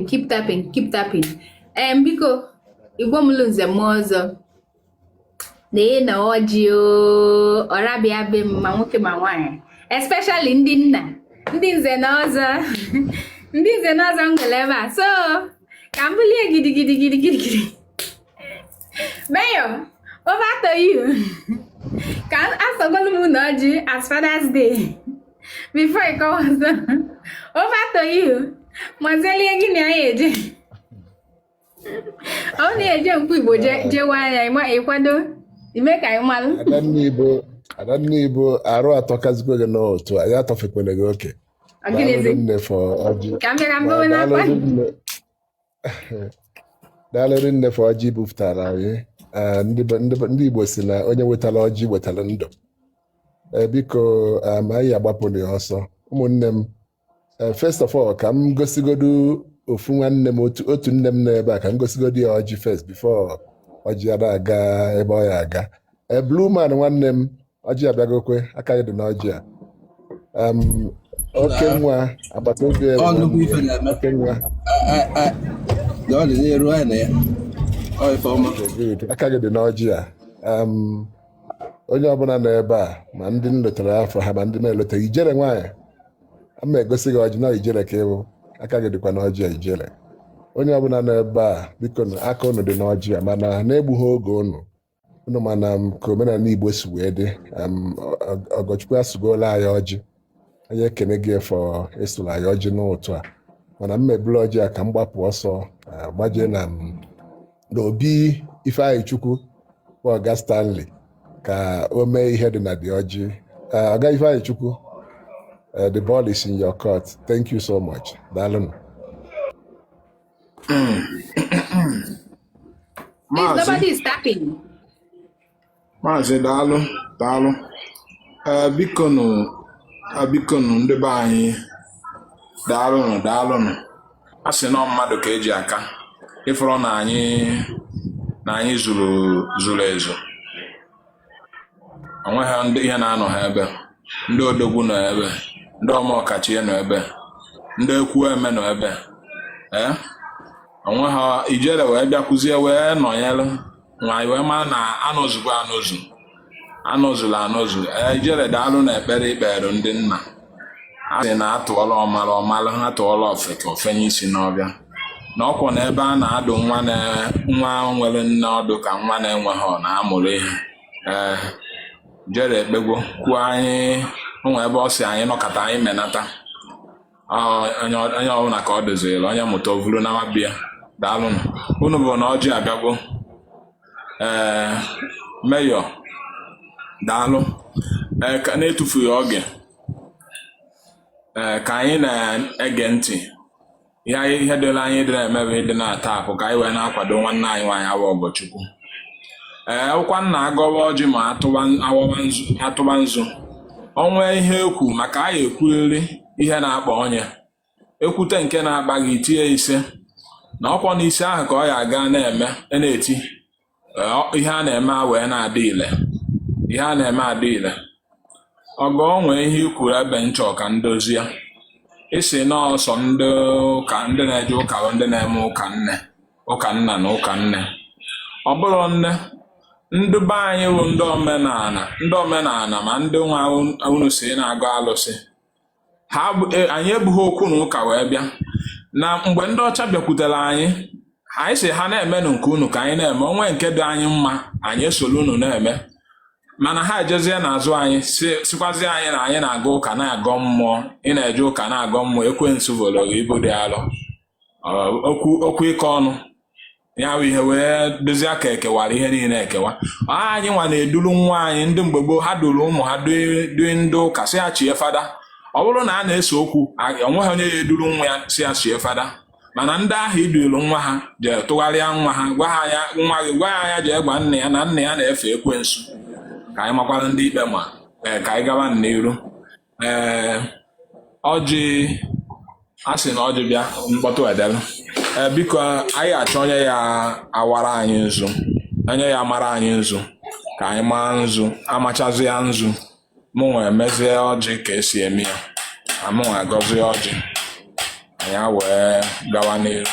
keep tapping keep tapping em biko igbo mụlụ nze mụọ ọzọ na-enye unu ọjị ọra bịa be m ma nwoke ma nwaanyị especially ndị nna ndị nze na ọzọ ndị nze na ọzọ m nwere ebe a so ka m bulie gidigidi gidigidi mayor over to you ka asụgolu m unu ọjị as father's day before ịkọwa ọzọ ofe atọghị ihu mazelie gị na ya eje ọ na-eje mkpu igbo jewe anya ịkwado ime ka anyị malụ adanne ibo arụ atọ kazikwe gị n'otu anyị atọfekwele gị oke ka m bịara mgbewe n'akwa daalụ rinne for ọjị bupụtara anyị Eh, ndị be- ndị be- ndị igbo si na onye wetara ọjị wetara ndụ Eh, biko eh, ma anyị agbapụrụ ya ọsọ ụmụnne m eh, first of all ka m gosigodu ofu nwanne m otu otu nne m nọ ebe a ka m gosigodu ya ọjị first before ọjị a na-aga ebe ọ ya-aga Eh, blue man nwanne m ọjị abịagokwa aka gị dị n'ọjị a Em, oke nwa agbata obi ya bụ ọnụgwụ nwanne ife ya na-eme oke nwa A- a- a- na ọ dị n'iru anyị na ya ọ ife ọma Okay, good. aka gị dị n'ọjị a Em, onye ọbụla nọ ebe a ma ndị m lotara afa ha ma ndị m eloteghị ijere nwaanyị a ma egosi gị ọjị na ijere ka ịbụ aka gị dịkwa n'ọjị a ijere onye ọbụla nọ ebe a biko nụ, aka unu dị n'ọjị a mana na-egbughị oge unu unu ma na m ka omenala Igbo si wee dị em, ọ- ọ- Ọgọchukwu asụgola anyị ọjị anyị ekene gị for ịsụrụ anyị ọjị n'ụtụ a mana m eburu ọjị a ka m gbapụ ọsọ eh, gbajee na m n'obi ifeanyịchukwu bụ ọga stanley ka o mee ihe dị na dị ọjị Eh, ọga ifeanyịchukwu eh, the ball is in your court thank you so much daalụnụ maazị daalụ daalụ eh, bikonu eh, bikonu ndị be anyị daalụnụ daalụnụ a sị na ọ mmadụ ka e ji aka ị fụrụ na anyị na anyị zuru zuru ezu onwe ha ndị ihe na-anọ ha ebe ndị odogwu nọ ebe ndị ọma ọkachie nọ ebe ndị ekwueme nọ ebe ee onwe ha ijere wee bịakwuzie wee nọnyere anyị wee mara na anọzugo anọzu anọzula anọzu ee ijere daalụ na ekpere i kpeere ndị nna a sị na atụọra ọmara ọ mara atụọra ofeke o fenye isi n'ọhịa na ọ kwa na ebe a na-adụ nwa na- nwa nwere nne ọdụ ka nwa na-enweghị na-amụrụ ihe ee jere ekpegwo kwuo anyị onwe ebe ọ sị anyị nọkata anyị menata Ọ, onye onye ọbụla ka ọ doziri onye mụta o vulu na nwabịa daalụnụ unu bụ na ọjị abịagwo ee meyọ daalụ ee ka n'etufughị oge ee ka anyị na-ege ntị ihe anyị ihe dịla anyị ịdị na-eme bụ ịdị na-ata akụ ka anyị wee na-akwado nwanne anyị nwaanyị awa ọgọchukwu ee ọ wụkwa na agọwa ọjị ma atụba awọwa nzu atụba nzu onwee ihe ekwu maka anyị ekwurịrị ihe na-akpa onye ekwute nke na-akpa gị itie ise na ọ kwa na ise ahụ ka ọ ya aga na-eme e na-eti ihe a na-eme a wee na-adị ile ihe a na-eme adị ile ọgọ nwee ihe ikwuru ebe nchọ ka ndozie ị sị na ọ sọ ndị ụka ndị na-eje ụka bụ ndị na-eme ụka nne ụka nna na ụka nne ọ bụrụ na ndị be anyị bụ ndị omenala ndị omenala ma ndị nwa unu sị na-agọ alụsị ha e, anyị ebughị okwu na ụka wee bịa na mgbe ndị ọcha bịakwutere anyị anyị sị ha na-emenụ nke unu ka anyị na-eme onwee nke dị anyị mma anyị esoro unu na-eme mana ha ejezie n'azụ anyị sịkwazie anyị na anyị na-aga ụka na-agọ mmụọ ị na-eje ụka na-agọ mmụọ ekwensu vuru ibu dị alọ Ọ- okwu okwu ịkọ ọnụ ya bụ ihe wee dịzie ka ekewara ihe niile ekewa Ọ anyị nwa na-eduru nwa anyị ndị mgbe gboo ha duru ụmụ ha due due ndị ụka sị ya chie fada ọ bụrụ na a na-ese okwu a- onweghị onye ya eduru nwa ya sị ya chie fada mana ndị ahụ eduru nwa ha jee tụgharịa nwa ha gwa ha ya nwa gị gwa ya ya jee gwa nna ya na nna ya na-efe ekwensu ka anyị makwara ndị ikpe ma ee, ka anyị gaba n'iru ee eh, ọjị a sị na ọjị bịa mkpọtụ edela ee eh, biko anyị achọ onye ya awara anyị nzu onye ya amara anyị nzu ka anyị maa nzu amachazịa nzu mụnwa emezie ọjị ka esi eme ya mụnwa agọzie ọjị anyị wee gawa n'iru